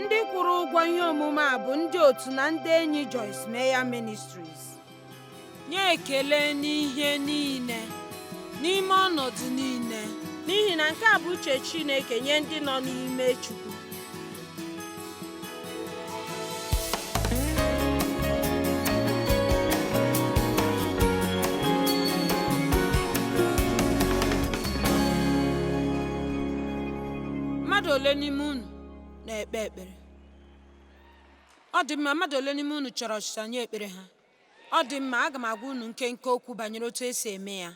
ndị kwụrụ ụgwọ ihe omume a bụ ndị otu na ndị enyi Joyce Meyer Ministries nye ekele n'ihe niile n'ime ọnọdụ niile n'ihi na nke a bụ uche Chineke nye ndị nọ n'ime Chukwu mmadụ ole n'ime unu na-ekpe ekpere ọ dị mma mmadụ ole n'ime unu chọrọ ọsịsa nye ekpere ha ọ dị mma aga m agwa unu nkenke okwu banyere otu e si eme ya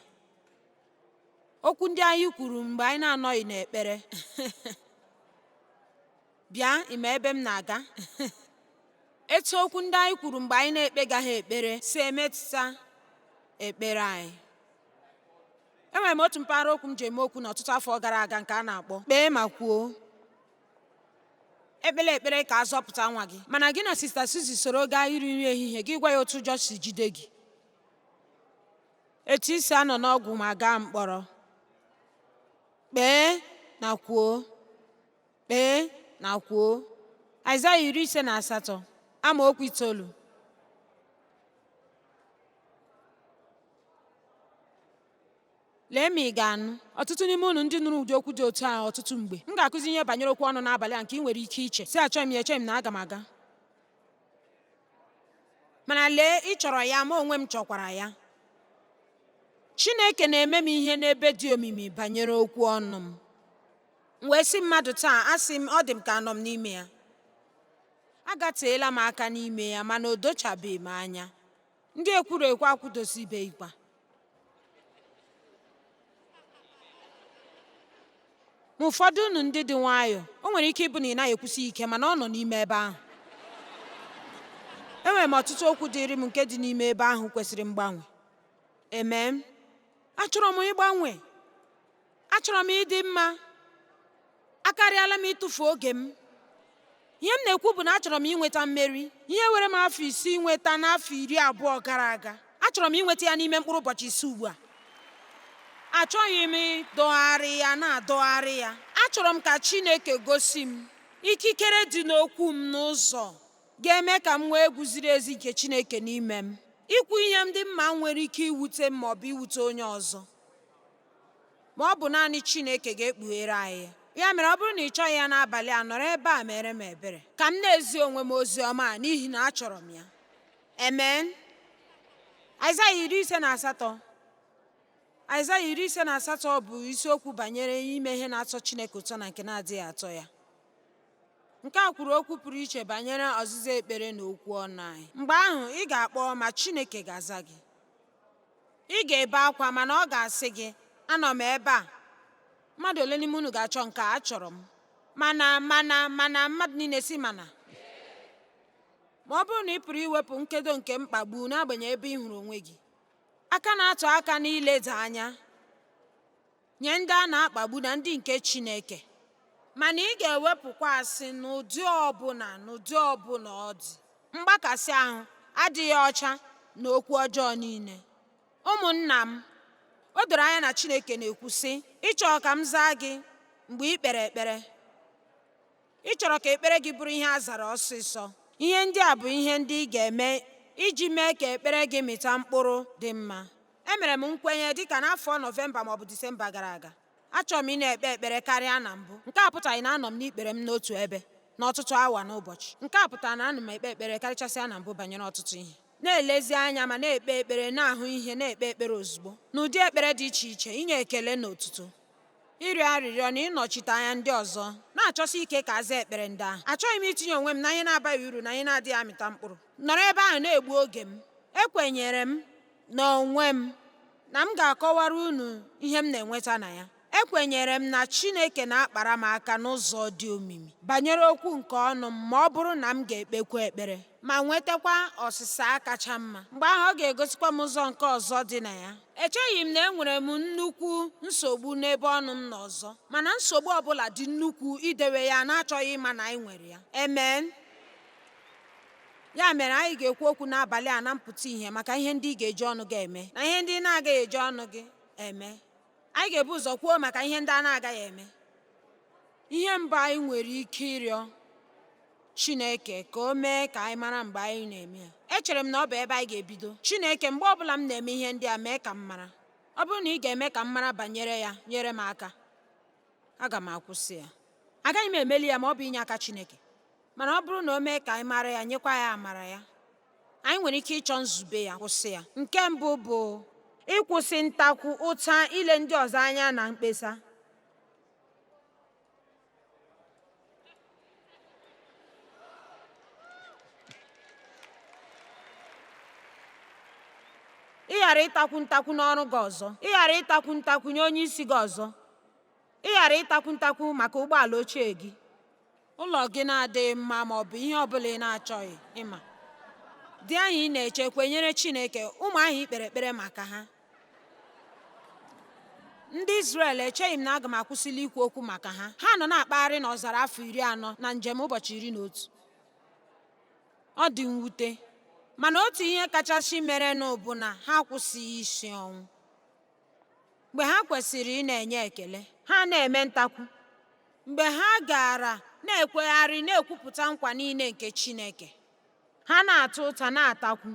okwu ndị anyị kwuru mgbe anyị na-anọghị n'ekpere Bịa, ị ma ebe m na-aga? Etu okwu ndị anyị kwuru mgbe anyị na-ekpegaghị ekpere si emetụta ekpere anyị. Enwere m otu mpaghara okwu m ji eme okwu n'ọtụtụ afọ gara aga nke a na-akpọ kpee ma kwuo. Ekpela ekpere ka a zọpụta nwa gị mana gị na Sista Suzy soro gaa iri nri ehihie gị gwa ya otu ụjọ si jide gị. Etu i si anọ n'ọgwụ ma gaa mkpọrọ. Kpee ma kwuo. kpee na kwuo aịzaya iri ise na asatọ amaokwu itoolu lee ma ị ga-anụ ọtụtụ n'ime unu ndị nụrụ ụdị okwu dị otu a ọtụtụ mgbe m ga-akụzi ihe banyere okwu ọnụ n'abalị a nke ị nwere ike iche sị achọghị m ya echeghị m na aga m aga mana lee ị chọrọ ya ma onwe m chọkwara ya chineke na-eme m ihe n'ebe dị omimi banyere okwu ọnụ m M wee sị mmadụ taa, asị m, ọ dị m ka anọ m n'ime ya. Agateela m aka n'ime ya mana o dochabeghị m anya. Ndị ekwuru ekwu akwụdosibeghịkwa. Ma ụfọdụ unu ndị dị nwayọọ, o nwere ike ịbụ na ị naghị ekwusi ike mana ọ nọ n'ime ebe ahụ. Enwere m ọtụtụ okwu dịịrị m nke dị n'ime ebe ahụ kwesịrị mgbanwe. Amen. Achọrọ m ịgbanwe. achọrọ m ịdị mma akarịala m ịtụfu oge m ihe m na-ekwu bụ na achọrọ m inweta mmeri ihe were m afọ isii inweta n'afọ iri abụọ gara aga achọrọ m inweta ya n'ime mkpụrụ ụbọchị isii ugbu a achọghị m ịdọgharị ya na-adọgharị ya achọrọ m ka chineke gosi m ikikere dị n'okwu m n'ụzọ ga-eme ka m nwee egwu ziri ezi nke chineke n'ime m ikwu ihe ndị m ma nwere ike iwute m maọbụ iwute onye ọzọ Ma ọ bụ naanị Chineke ga-ekpughere anyị ya. Ya mere ọ bụrụ na ị chọghị ya n'abalị a nọrọ ebe a mere m ebere ka m na-ezi onwe m ozi ọma a n'ihi na achọrọ m ya. Amen. Aịzaya iri ise na asatọ Aịzaya iri ise na asatọ bụ isiokwu banyere ime ihe na-atọ Chineke ụtọ na nke na-adịghị atọ ya. Nke a kwuru okwu pụrụ iche banyere ọzịza ekpere na okwu ọnụ anyị. Mgbe ahụ, ị ga-akpọ ma Chineke ga-aza gị. ị ga-ebe akwa mana ọ ga-asị gị anọ m ebe a mmadụ ole n'ime unu ga-achọ nke a achọrọ m mana mana mmadụ niile sị mana ma ọ bụrụ na ị pụrụ iwepụ nkedo nke mkpagbu n'agbanyeghị ebe ị hụrụ onwe gị aka na-atụ aka n'ileda anya nye ndị a na-akpagbu na ndị nke Chineke, mana ị ga-ewepụkwa asị n'ụdị ọbụla n'ụdị ọbụla ọ dị, mgbakasị ahụ, adịghị ọcha na okwu ọjọọ niile. Ụmụnna m, o doro anya na Chineke na-ekwu, sị, Ị chọrọ ka m zaa gị mgbe ị kpere ekpere? Ị chọrọ ka ekpere gị bụrụ ihe a zara ọsịsọ? Ihe ndị a bụ ihe ndị ị ga-eme iji mee ka ekpere gị mịta mkpụrụ dị mma. Emere m nkwenye dịka n'afọ Nọvemba maọbụ Disemba gara aga. Achọrọ m ịna-ekpe ekpere karịa na mbụ. Nke a pụtaghị na anọ m n'ikpere m n'otu ebe n'ọtụtụ awa n'ụbọchị. Nke a pụtara na ana m ekpe ekpere karịchasịa na mbụ banyere ọtụtụ ihe. Na-elezi anya ma na-ekpe ekpere, na-ahụ ihe, na-ekpe ekpere ozugbo. N'ụdị ekpere dị iche iche, inye ekele na otuto, ịrịọ arịrịọ na ịnọchite anya ndị ọzọ, na-achọsi ike ka a zaa ekpere ndị ahụ. Achọghị m itinye onwe m na ihe na-abaghị uru na ihe na-adịghị amịta mkpụrụ. Nọrọ ebe ahụ na-egbu oge m. Ekwenyere m n'onwe m na m ga-akọwara unu ihe m na-enweta na ya. Ekwenyere m na Chineke na-akpara m aka n'ụzọ dị omimi banyere okwu nke ọnụ m ma ọ bụrụ na m ga-ekpekwu ekpere ma nwetakwa ọsịsa a kacha mma. Mgbe ahụ ọ ga-egosikwa m ụzọ nke ọzọ dị na ya. Echeghị m na enwere m nnukwu nsogbu n'ebe ọnụ m nọ ọzọ, mana nsogbu ọbụla dị nnukwu idewe ya na-achọghị ịma na anyị nwere ya. Amen. Ya mere, anyị ga-ekwu okwu n'abalị a na mpụta ihe maka ihe ndị ị ga-eji ọnụ gị eme na ihe ndị ị na-agaghị eji ọnụ gị eme. Anyị ga-ebu ụzọ kwuo maka ihe ndị a na-agaghị eme. Ihe mbụ anyị nwere ike ịrịọ Chineke ka o mee ka anyị mara mgbe anyị na-eme ya. Echere m na ọ bụ ebe anyị ga-ebido. Chineke, mgbe ọbụla m na-eme ihe ndị a, mee ka m mara. Ọ bụrụ na ị ga-eme ka m mara banyere ya, nyere m aka. aga m akwụsị ya agaghị m emeli ya ma ọ bụ inye aka Chineke mana ọ bụrụ na o mee ka anyị mara ya nyekwa ya amara ya anyị nwere ike ịchọ nzube ya kwụsị ya nke mbụ bụ ịkwụsị ntakwu ụta ile ndị ọzọ anya na mkpesa ị ghara ịtakwu ntakwu n'ọrụ gị ọzọ ị ghara ịtakwu ntakwu nye onye isi gị ọzọ ị ghara ịtakwu ntakwu maka ụgbọala ochie gị ụlọ gị na-adịghị mma ma ọ bụ ihe ọ bụla ị na-achọghị ịma di ahụ ị na-eche kwenyere Chineke ụmụ ahụ i kpere ekpere maka ha ndị Izrel echeghị m na aga m akwụsịli ikwu okwu maka ha ha nọ na-akpagharị n'ọzara afọ iri anọ na njem ụbọchị iri na otu ọ dị mwute mana otu ihe kachasị merenụ bụ na ha akwụsịghị isi ọnwụ mgbe ha kwesịrị ị na-enye ekele ha na-eme ntakwu mgbe ha gaara na-ekwegharị na-ekwupụta nkwa niile nke Chineke ha na-ata ụta na-atakwu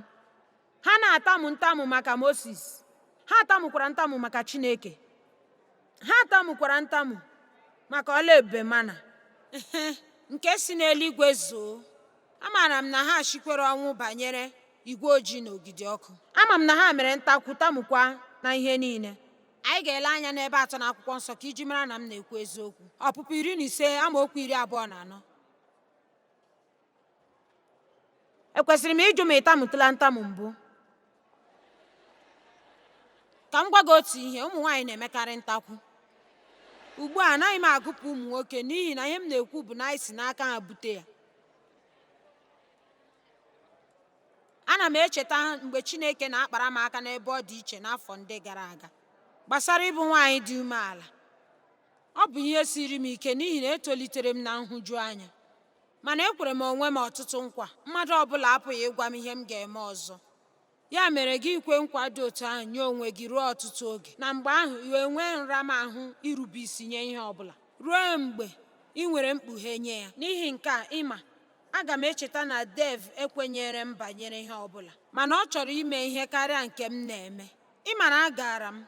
ha na-atamu ntamu maka Mosis ha tamukwara ntamu maka Chineke ha tamukwara ntamu maka ọlụ ebube mana nke si n'eluigwe zoo amaara m na ha sikwere ọnwụ banyere igwe ojii na ogidi ọkụ ama m na ha mere ntakwu tamukwa na ihe niile anyị ga-ele anya n'ebe atọ n'akwụkwọ nsọ ka iji mara na m na-ekwu eziokwu ọpụpụ iri na ise amaokwu iri abụọ na anọ ekwesịrị m ịjụ ma ị tamutụla ntamu mbụ ka m gwa gị otu ihe ụmụ nwaanyị na-emekarị ntakwu ugbu a anaghị m agụpụ ụmụ nwoke n'ihi na ihe m na-ekwu bụ na anyị si n'aka ha bute ya ana m echeta mgbe Chineke na-akpara m aka n'ebe ọ dị iche n'afọ ndị gara aga gbasara ịbụ nwaanyị dị umeala ọ bụ ihe siri m ike n'ihi na etolitere m na nhụjuanya Mana ekwere m onwe m ọtụtụ nkwa, mmadụ ọ bụla apụghị ịgwa m ihe m ga-eme ọzọ. Ya mere gị ikwe nkwa dị otu ahụ nye onwe gị ruo ọtụtụ oge, na mgbe ahụ i wee nwee nramahụ irube isi nye ihe ọ bụla, ruo mgbe ị nwere mkpughe nye ya. N'ihi nke a, ị ma, aga m echeta na Dave ekwenyeere m banyere ihe ọ bụla, mana ọ chọrọ ime ihe karịa nke m na-eme. Ị ma na agaara m,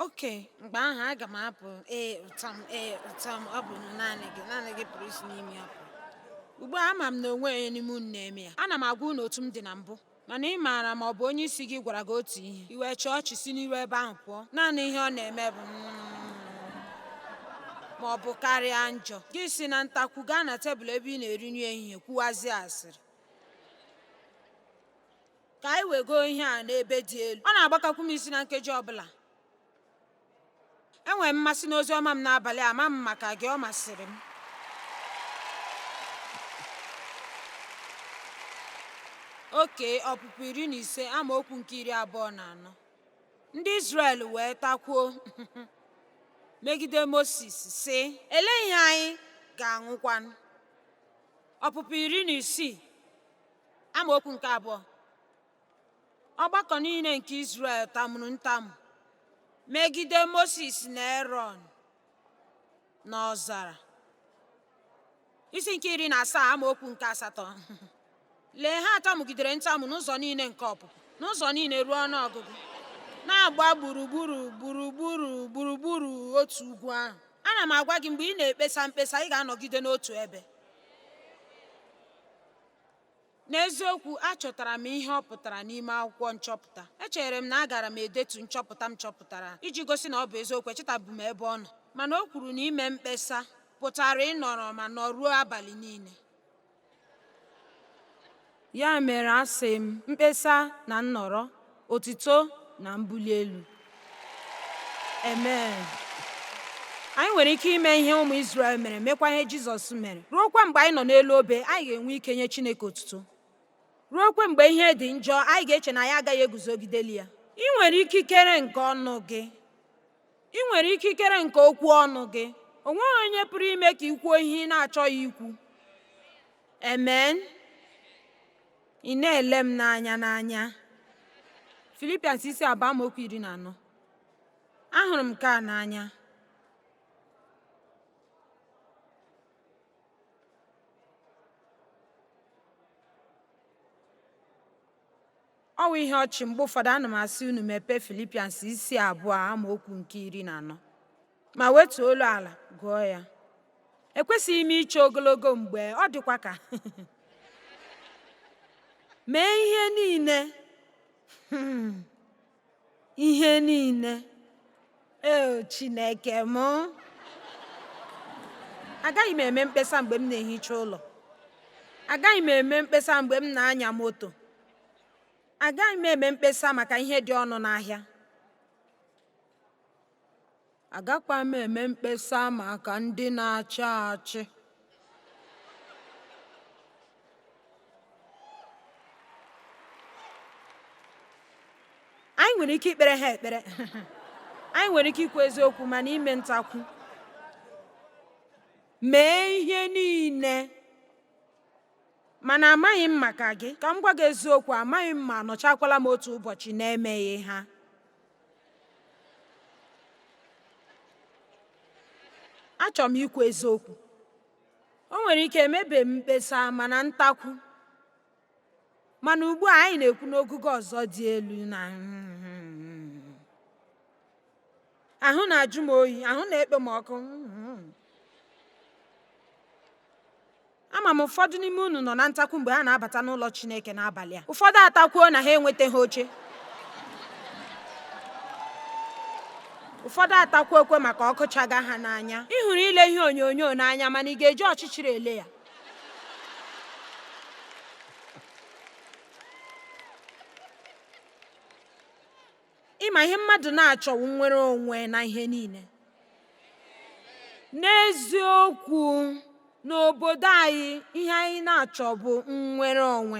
okay mgbe ahụ aga m apụ ee ụtọ m ee ụtọ m ọ bụ naanị gị naanị gị pụrụ isi n'ime ya pụọ ugbu a ama m na o nweghị onye n'ime unu na-eme ya ana m agwa unu otu m dị na mbụ mana ị maara ma ọ bụ onye isi gị gwara gị otu ihe i wee chịọ ọchị si n'iru ebe ahụ pụọ naanị ihe ọ na-eme bụ ma ọ bụ karịa njọ gị si na ntakwu gaa na tebụl ebe ị na-eri nri ehihie kwuwazie asịrị ka anyị wegoo ihe a n'ebe dị elu ọ na-agbakakwu m isi na nkeji ọbụla enwere m mmasị n'ozi ọma m n'abalị ama m maka gị ọ masịrị m oke ọpụpụ iri na ise amaokwu nke iri abụọ na anọ ndị Izrel wee takwuo megide Mozis sị elee ihe anyị ga-aṅụkwanụ ọpụpụ iri na isii amaokwu nke abụọ ọgbakọ niile nke Izrel tamuru ntamu megide Moses na Erọn n'ọzara isi nke iri na asaa amaokwu nke asatọ lee ha tamugidere ntamu n'ụzọ niile nke ọpụpụ n'ụzọ niile ruo ọnụ ọgụgụ na-agba gburugburu gburugburu gburugburu otu ugwu ahụ ana m agwa gị mgbe ị na-ekpesa mkpesa ị ga-anọgide n'otu ebe N'eziokwu, achọtara m ihe ọ pụtara n'ime akwụkwọ nchọpụta. Echere m na agara m edetu nchọpụta m chọpụtara iji gosi na ọ bụ eziokwu echetabu m ebe ọ nọ. Mana o kwuru na ime mkpesa pụtara ịnọrọ ma nọruo abalị niile. Ya mere asị m, mkpesa na nnọrọ. otuto na mbuli elu amen anyị nwere ike ime ihe ụmụ Izrel mere mekwa ihe Jizọs mere ruokwa mgbe anyị nọ n'elu obe anyị ga-enwe ike nye Chineke otuto ruokwa mgbe ihe dị njọ anyị ga-eche na anyị agaghị eguzogideli ya i nwere ikikere nke ọnụ gị i nwere ikikere nke okwu ọnụ gị o nweghị onye pụrụ ime ka i kwuo ihe ị na-achọghị ikwu amen Ị na-ele m n'anya n'anya. Filipians isi abụọ amaokwu iri na anọ. Ahụrụ m nke a n'anya. Ọ wụ ihe ọchị mgbe ụfọdụ ana m asị unu mepee Filipians isi abụọ amaokwu nke iri na anọ. ma wetuo olu ala gụọ ya ekwesịghị m iche ogologo mgbe ọ dịkwa ka mee ihe niile hmm. ihe niile eo chineke m agaghị m eme mkpesa mgbe m na-ehicha ụlọ agaghị m eme mkpesa mgbe m na-anya moto agaghị m eme mkpesa maka ihe dị ọnụ n'ahịa Agakwa m eme mkpesa maka ndị na-achị achị. Anyị nwere ike ikpere ha ekpere. Anyị nwere ike ikwu eziokwu mana ime ntakwu. Mee ihe niile mana amaghị m maka gị ka m gwa gị eziokwu amaghị m ma anọchakwala m otu ụbọchị n'emeghị ha achọrọ m ikwu eziokwu o nwere ike emebe m mkpesa mana ntakwu mana ugbu a anyị na-ekwu n'ogugo ọzọ dị elu na ahụ na-ajụ m oyi ahụ na-ekpe m ọkụ Ama m ụfọdụ n'ime unu nọ na ntakwu mgbe ha na-abata n'ụlọ Chineke n'abalị a. Ụfọdụ atakwuo na ha enwetaghị oche. Ụfọdụ atakwuokwa maka ọkụ chaga ha n'anya. Ị hụrụ ile ihe onyonyo n'anya mana ị ga-eji ọchịchịrị ele ya. ị ma ihe mmadụ na-achọ wụ nnwere onwe na ihe niile n'eziokwu n'obodo anyị ihe anyị na-achọ bụ nnwere onwe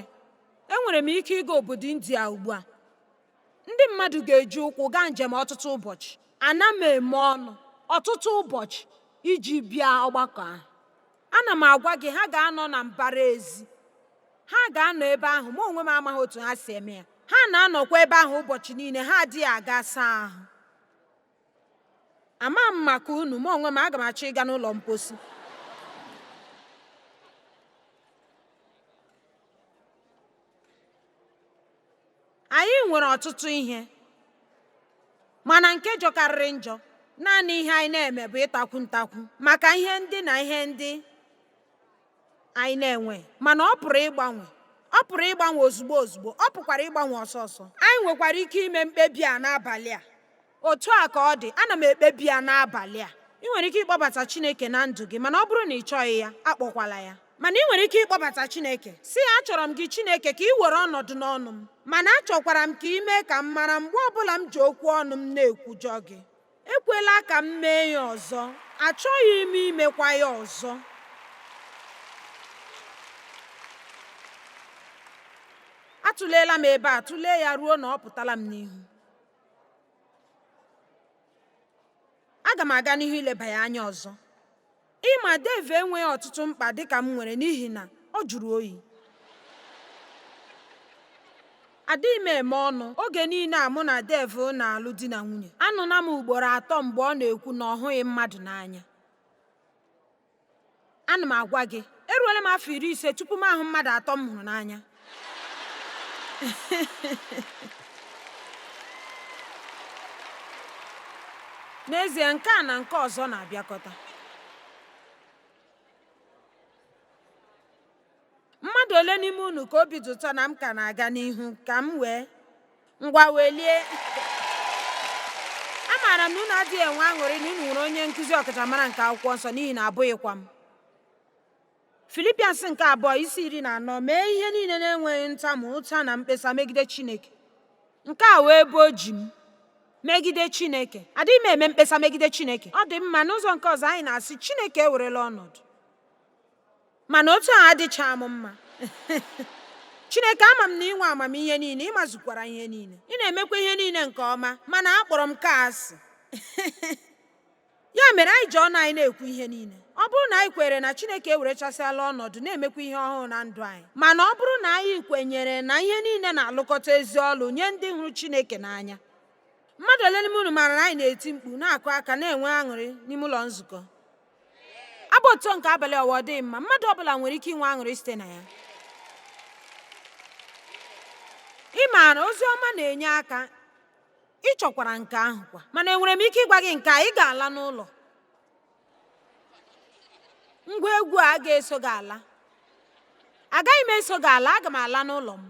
enwere m ike ịga obodo india ugbu a ndị mmadụ ga-eji ụkwụ gaa njem ọtụtụ ụbọchị ana m eme ọnụ ọtụtụ ụbọchị iji bịa ọgbakọ ahụ Ana m agwa gị, ha ga-anọ na mbara ezi. Ha ga-anọ ebe ahụ, mụ onwe m amaghị otu ha si eme ya. Ha na-anọkwa ebe ahụ ụbọchị niile, ha adịghị aga saa ahụ. Amaghị m maka unu, mụ onwe m aga m achọ ịga n'ụlọ mposi. anyị nwere ọtụtụ ihe mana nke jọkarịrị njọ naanị ihe anyị na-eme bụ ịtakwu ntakwu maka ihe ndị na ihe ndị anyị na-enwe mana ọ pụrụ ịgbanwe ọ pụrụ ịgbanwe ozugbo ozugbo ọ pụkwara ịgbanwe ọsọ ọsọ anyị nwekwara ike ime mkpebi a n'abalị a Otu a ka ọ dị, ana m ekpebi ya n'abalị a. Ị nwere ike ịkpọbata Chineke na ndụ gị, mana ọ bụrụ na ị chọghị ya, akpọkwala ya. Mana ị nwere ike ịkpọbata Chineke. Sị ya, Achọrọ m gị Chineke ka ị were ọnọdụ n'ọnụ m. Mana achọkwara m ka ị mee ka m mara mgbe ọbụla m ji okwu ọnụ m na-ekwujọ gị. Ekwela ka m mee ya ọzọ. Achọghị m imekwa ya ọzọ. Atụleela m ebe a tụlee ya ruo na ọ pụtala m n'ihu. aga m aga n'ihu ileba ya anya ọzọ ị ma Dave enweghị ọtụtụ mkpa dịka m nwere n'ihi na ọ jụrụ oyi adịghị m eme ọnụ oge niile a mụ na Dave na-alụ di na nwunye anụla m ugboro atọ mgbe ọ na-ekwu na ọ hụghị mmadụ n'anya ana m agwa gị eruola m afọ iri ise tupu m ahụ mmadụ atọ m hụrụ n'anya n'ezie nke a na nke ọzọ na-abịakọta mmadụ ole n'ime unu ka obi dị ụtọ na m ka na-aga n'ihu ka m wee ngwa welie amaara m na unu adịghị enwe aṅụrị na unu nwere onye nkụzi ọkachamara nke akwụkwọ nsọ n'ihi na abụghịkwa m Philippians nke abụọ isi iri na anọ mee ihe niile na-enweghị ntamu ụta na mkpesa megide chineke nke a wee bụ oji m megide chineke adịghị m eme mkpesa megide chineke ọ dị mma n'ụzọ nke ọzọ anyị na-asị chineke ewerela ọnọdụ mana otu a adịchaghị m mma Chineke ama m na ị nwe amamihe niile ị mazukwara ihe niile ị na-emekwa ihe niile nke ọma mana akpọrọ m nke a asị ya mere anyị ji ọnụ anyị na-ekwu ihe niile ọ bụrụ na anyị kweere na Chineke ewerechasịala ọnọdụ na-emekwa ihe ọhụrụ na ndụ anyị mana ọ bụrụ na anyị kwenyere na ihe niile na-alụkọta ezi ọlụ nye ndị hụrụ Chineke n'anya mmadụ ole n'ime unu maara na anyị na-eti mkpu na-akụ aka na-enwe aṅụrị n'ime ụlọ nzukọ abụ otu nke abalị ọwa ọ dịghị mma mmadụ ọ bụla nwere ike inwe aṅụrị site na ya ị maara ozi ọma na-enye aka ị chọkwara nke ahụ kwa mana enwere m ike ịgwa gị nke a ị ga-ala n'ụlọ ngwa egwu a ga-eso gị ala agaghị m eso gị ala aga m ala n'ụlọ m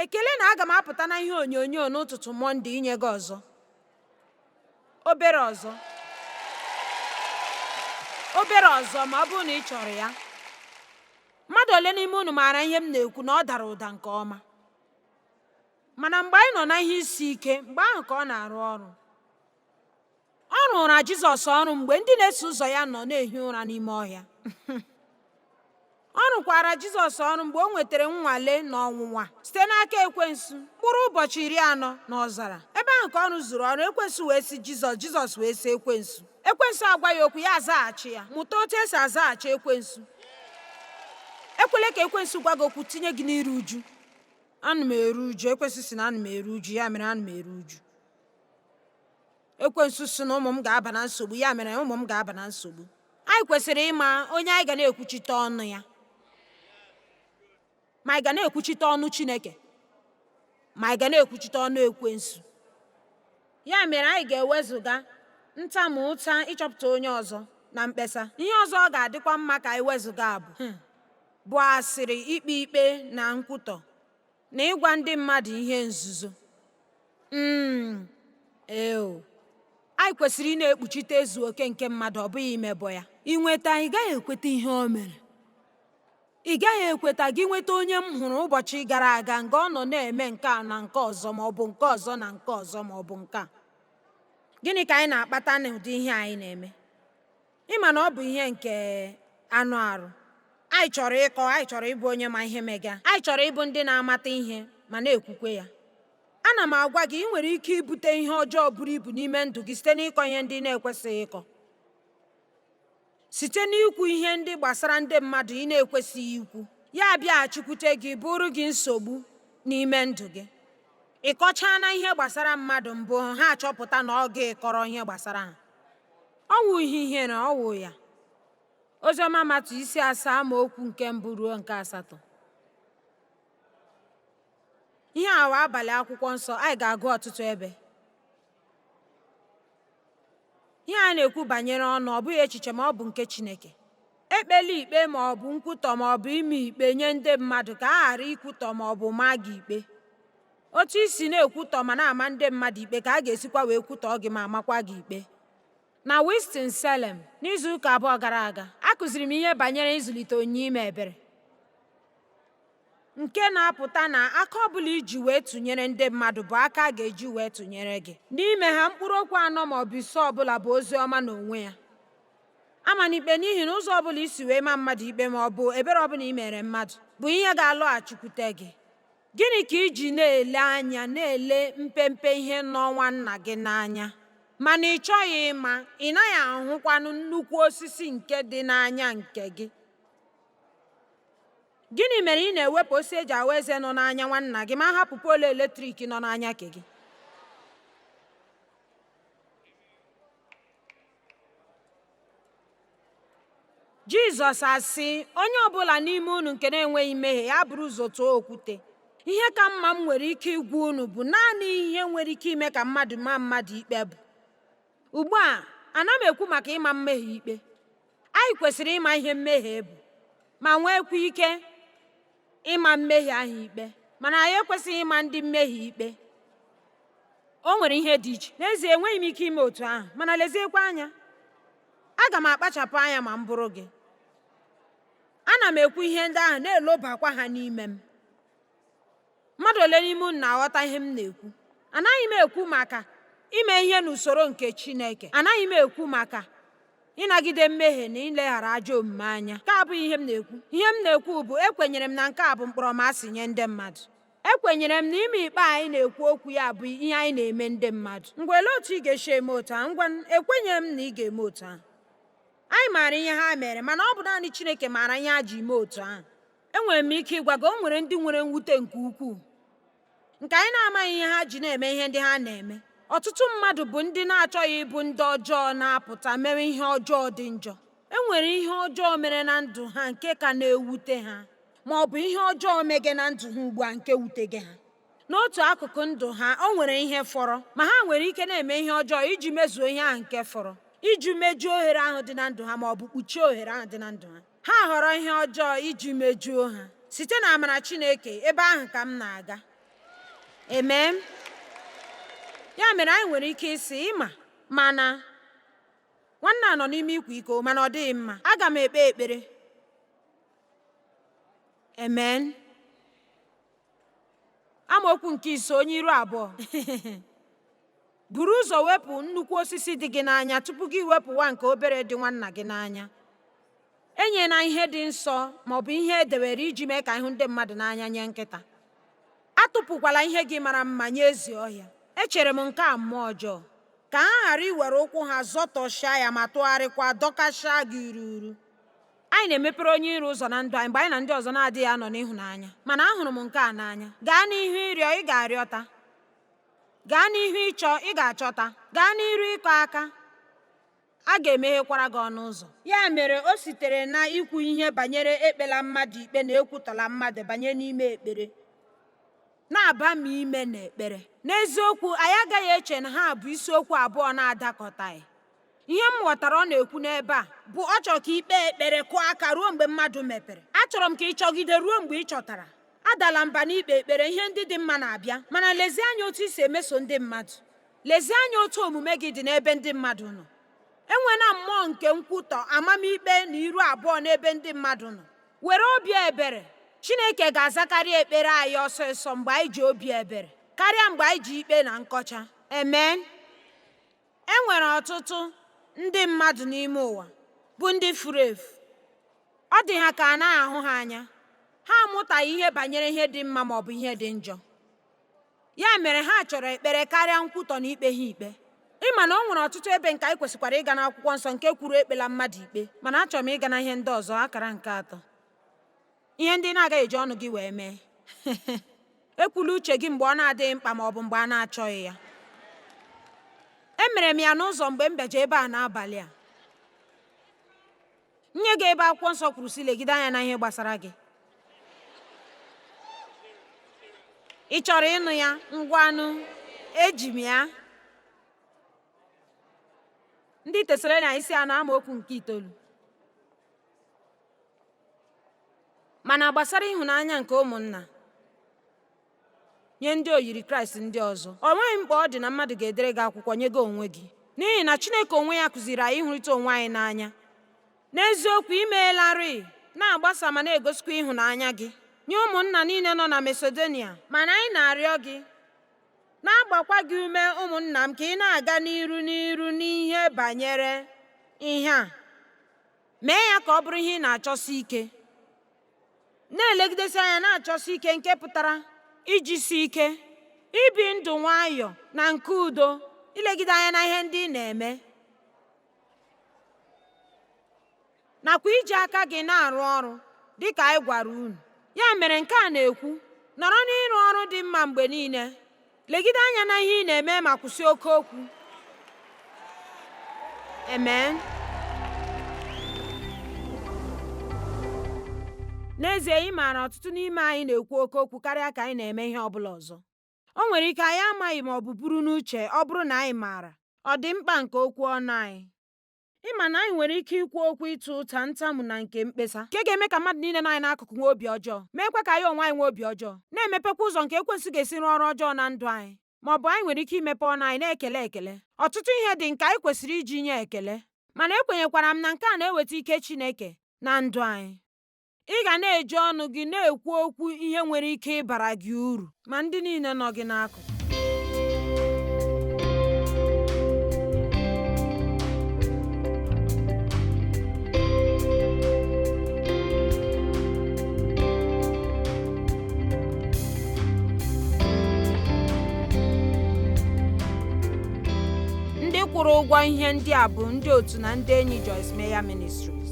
Ekele na aga m apụta na ihe onyonyo n'ụtụtụ Mọnde inye gị ọzọ. Obere ọzọ. Obere ọzọ ma ọ bụrụ na ị chọrọ ya. Mmadụ ole n'ime unu maara ihe m na-ekwu na ọ dara ụda nke ọma? Mana mgbe anyị nọ na ihe isi ike, mgbe ahụ ka ọ na-arụ ọrụ. Ọ rụụra Jizọs ọrụ mgbe ndị na-eso ụzọ ya nọ na-ehi ụra n'ime ọhịa. Ọ rụkwaara Jizọs ọrụ mgbe o nwetara nnwale na ọnwụnwa site n'aka ekwensu mkpụrụ ụbọchị iri anọ n'ọzara. Ebe ahụ ka ọ rụzuru ọrụ ekwensu wee sị Jizọs, Jizọs wee sị ekwensu. Ekwensu agwa ya okwu ya azaghachi ya. Mụta otu e si azaghachi ekwensu. Ekwela ka ekwensu gwa gị okwu tinye gị n'iru uju. Ana m eru uju. Ekwensu sị na ana m eru uju, ya mere ana m eru uju. ekwensu sị na ụmụ m ga-aba na nsogbu ya mere ụmụ m ga-aba na nsogbu anyị kwesịrị ịma onye anyị ga na-ekwuchite ọnụ ya ma anyị ga na-ekwuchite ọnụ chineke ma anyị ga na-ekwuchite ọnụ ekwensu ya mere anyị ga-ewezuga ntamu ụta ịchọpụta onye ọzọ na mkpesa ihe ọzọ ọ ga-adịkwa mma ka anyị wezuga abụ bụ asịrị ikpe ikpe na nkwutọ na ịgwa ndị mmadụ ihe nzuzo. um Eo, anyị kwesịrị ị na-ekpuchite ezu oke nke mmadụ, ọ bụghị imebọ ya. Ị nweta, ị gaghị ekweta ihe o mere. Ị gaghị ekweta gị nweta onye m hụrụ ụbọchị gara aga nga ọ nọ na-eme nke a na nke ọzọ ma ọ bụ nke ọzọ na nke ọzọ ma ọ bụ nke a. Gịnị ka anyị na-akpata n'ụdị ihe anyị na-eme? Ị ma na ọ bụ ihe nke anụ arụ. Anyị chọrọ ịkọ, anyị chọrọ ịbụ onye ma ihe mega. Anyị chọrọ ịbụ ndị na-amata ihe ma na-ekwukwe ya. Ana m agwa gị, ị nwere ike ibute ihe ọjọọ buru ibu n'ime ndụ gị site n'ịkọ ihe ndị ị na-ekwesịghị ịkọ. Site n'ikwu ihe ndị gbasara ndị mmadụ ị na-ekwesịghị ikwu, ya abịaghachikwute gị bụrụ gị nsogbu n'ime ndụ gị. Ị kọchaana ihe gbasara mmadụ mbụ, ha achọpụta na ọ gị kọrọ ihe gbasara ha. Ọ wụ ihe ihere ọ wụ ya. Oziọma Matiu isi asaa amaokwu nke mbụ ruo nke asatọ. Ihe a wụ abalị akwụkwọ nsọ anyị ga-agụ ọtụtụ ebe. Ihe a na-ekwu banyere ọnụ ọ bụghị echiche m, ọ bụ nke Chineke. Ekpela ikpe ma ọ bụ nkwutọ ma ọ bụ ịma ikpe nye ndị mmadụ ka a ghara ikwutọ ma ọ bụ maa gị ikpe. Otu i si na-ekwutọ ma na-ama ndị mmadụ ikpe ka a ga-esikwa wee kwutọọ gị ma maakwa gị ikpe. Na Winston-Salem, n'izu ụka abụọ gara aga, akụziri m ihe banyere ịzụlite onyinye ime ebere, nke na-apụta na aka ọ bụla i ji wee tụnyere ndị mmadụ bụ aka a ga-eji wee tụnyere gị. N'ime ha, mkpụrụ okwu anọ ma ọ bụ ise ọ bụla bụ ozi ọma n'onwe ya. Amana ikpe n'ihi na ụzọ ọ bụla i si wee maa mmadụ ikpe ma ọ bụ ebere ọ bụla i mere mmadụ bụ ihe ga-alọghachikwute gị. Gịnị ka i ji na-ele anya na-ele mpempe ihe nọ nwanna gị n'anya, mana ị chọghị ịma, ị naghị ahụkwanụ nnukwu osisi nke dị n'anya nke gị? Gịnị mere ị na-ewepụ osisi e ji aghụ eze nọ n'anya nwanna gị ma hapụ poolu eletrik nọ n'anya nke gị? jizọs asị onye ọbụla n'ime unu nke na-enweghị mmehie ya buru ụzọ tụọ okwute ihe ka mma m nwere ike ịgwa unu bụ naanị ihe nwere ike ime ka mmadụ maa mmadụ ikpe bụ ugbu a ana m ekwu maka ịma mmehie ikpe anyị kwesịrị ịma ihe mmehie bụ ma nweekwa ike ịma mmehie ahụ ikpe mana anyị ekwesịghị ịma ndị mmehie ikpe o nwere ihe dị iche n'ezie enweghị m ike ime otu ahụ mana leziekwa anya aga m akpachapụ anya ma m bụrụ gị ana m ekwu ihe ndị ahụ na-elobakwa ha n'ime m mmadụ ole n'ime unu na-aghọta ihe m na-ekwu anaghị m ekwu maka ime ihe n'usoro nke chineke anaghị m ekwu maka ịnagide mmehie na ileghara ajọ omume anya nke a abụghị ihe m na-ekwu ihe m na-ekwu bụ ekwenyere m na nke a bụ mkpọrọmasị nye ndị mmadụ ekwenyere m na ime ikpe anyị na-ekwu okwu ya bụ ihe anyị na-eme ndị mmadụ ngwa olee otu ị ga-esi eme otu ahụ ngwa ekwenyere m na ị ga-eme otu ahụ anyị maara ihe ha mere mana ọ bụ naanị Chineke maara ihe ha ji mee otu ahụ enwere m ike ịgwa gị o nwere ndị nwere mwute nke ukwuu nke anyị na-amaghị ihe ha ji na-eme ihe ndị ha na-eme ọtụtụ mmadụ bụ ndị na-achọghị ịbụ ndị ọjọọ na-apụta mewe ihe ọjọọ dị njọ e nwere ihe ọjọọ mere na ndụ ha nke ka na-ewute ha ma ọ bụ ihe ọjọọ mege na ndụ ha ugbu a nke wutege ha n'otu akụkụ ndụ ha o nwere ihe fọrọ ma ha nwere ike na-eme ihe ọjọọ iji mezuo ihe ahụ nke fọrọ iji mejuo ohere ahụ dị na ndụ ha ma ọ bụ kpuchie ohere ahụ dị na ndụ ha Ha họrọ ihe ọjọọ iji mejuo ha. Site na amara Chineke, ebe ahụ ka m na-aga. Amen. Ya mere anyị nwere ike ịsị ama m na nwanne a nọ n'ime ịkwa iko mana ọ dịghị mma. Aga m ekpe ekpere. Amen. amaokwu nke ise onye iru abụọ buru ụzọ wepụ nnukwu osisi dị gị n'anya tupu gị wepụwa nke obere dị nwanna gị n'anya enyela ihe dị nsọ ma ọ bụ ihe e dewere iji mee ka ị hụ ndị mmadụ n'anya nye nkịta atụpụkwala ihe gị mara mma nye ezi ọhịa echere m nke a mmụọ ọjọọ ka ha ghara iwere ụkwụ ha zọtọchaa ya ma tụgharịkwa dọkachaa gị uru Anyị na-emepere onye iro ụzọ na ndụ anyị mgbe anyị na ndị ọzọ na-adịghị anọ n'ịhụnanya. Mana ahụrụ m nke a n'anya. Gaa n'ihu ịrịọ, ị ga-arịọta. Gaa n'ihu ịchọ, ị ga-achọta. Gaa n'iru ịkụ aka, a ga-emeghekwara gị ọnụ ụzọ. Ya mere, o sitere na ikwu ihe banyere ekpela mmadụ ikpe na ekwutọla mmadụ banye n'ime ekpere. Na-abami ime n'ekpere. N'eziokwu, anyị agaghị eche na ha bụ isiokwu abụọ na-adakọtaghị. ihe m ghọtara ọ na-ekwu n'ebe a bụ ọ chọrọ ka i kpee ekpere kụọ aka ruo mgbe mmadụ mepere achọrọ m ka ị chọgide ruo mgbe ị chọtara adala mba n'ikpe ekpere ihe ndị dị mma na-abịa mana lezie anya otu i si emeso ndị mmadụ lezie anya otu omume gị dị n'ebe ndị mmadụ nọ enwena mmụọ nke nkwutọ amamikpe na iru abụọ n'ebe ndị mmadụ nọ were obi ebere chineke ga-azakarị ekpere anyị ọsọsọ mgbe anyị ji obi ebere karịa mgbe anyị ji ikpe na nkọcha amen E nwere ọtụtụ ndị mmadụ n'ime ụwa bụ ndị furu efu. Ọ dị ha ka a naghị ahụ ha anya. Ha amụtaghị ihe banyere ihe dị mma ma ọ bụ ihe dị njọ. Ya mere ha chọrọ ekpere karịa nkwutọ na ikpe ha ikpe. Ị ma na o nwere ọtụtụ ebe nke anyị kwesịkwara ịga n'akwụkwọ nsọ nke kwuru ekpela mmadụ ikpe mana achọrọ m ịga na ihe ndị ọzọ akara nke atọ. Ihe ndị ị na-agaghị eji ọnụ gị wee mee. Ekwula uche gị mgbe ọ na-adịghị mkpa ma ọ bụ mgbe a na-achọghị ya. Emere m ya n'ụzọ mgbe m bịaje ebe a n'abalị a. Nye gị ebe akwụkwọ nsọ kwuru sị legide anya na ihe gbasara gị. Ị chọrọ ịnụ ya? Ngwanụ, eji m ya. Ndị Tesalonaịka isi anọ amaokwu nke itoolu. mana gbasara ịhụnanya nke ụmụnna nye ndị oyiri kraịst ndị ọzọ o nweghị mkpa ọ dị na mmadụ ga-edere gị akwụkwọ nye gị onwe gị n'ihi na chineke onwe ya kụziri anyị ịhụrịta onwe anyị n'anya n'eziokwu i meelarị na-agbasa ma na-egosikwa ịhụnanya gị nye ụmụnna niile nọ na masedonia mana anyị na-arịọ gị na-agbakwa gị ume ụmụnna m ka ị na-aga n'iru n'iru n'ihe banyere ihe a mee ya ka ọ bụrụ ihe ị na-achọsi ike na-elegidesi anya na-achọsi ike nke pụtara ijisi ike ibi ndụ nwayọọ na nke udo ilegide anya na ihe ndị ị na-eme nakwa iji aka gị na-arụ ọrụ dị ka anyị gwara unu ya mere nke a na-ekwu nọrọ n'ịrụ ọrụ dị mma mgbe niile legide anya na ihe ị na-eme ma kwụsị oke okwu amen n'ezie ị maara ọtụtụ n'ime anyị na-ekwu oke okwu karịa ka anyị na-eme ihe ọ bụla ọzọ o nwere ike anyị amaghị ma ọ bụ buru n'uche ọ bụrụ na anyị maara ọ dị mkpa nke okwu ọnụ anyị ị ma na anyị nwere ike ikwu okwu ịta ụta ntamu na nke mkpesa nke ga-eme ka mmadụ niile nọ anyị n'akụkụ nwee obi ọjọọ meekwa ka anyị onwe anyị nwee obi ọjọọ na-emepekwa ụzọ nke ekwensu ga-esi rụọ ọrụ ọjọọ na ndụ anyị ma ọ bụ anyị nwere ike imepe ọnụ anyị na-ekele ekele ọtụtụ ihe dị nke anyị kwesịrị iji nye ekele mana ekwenyekwara m na nke a na-eweta ike Chineke na ndụ anyị Ị ga na-eji ọnụ gị na-ekwu okwu ihe nwere ike ịbara gị uru ma ndị niile nọ gị n'akụkụ. Ndị kwụrụ ụgwọ ihe ndị a bụ ndị otu na ndị enyi Joyce Meyer Ministries.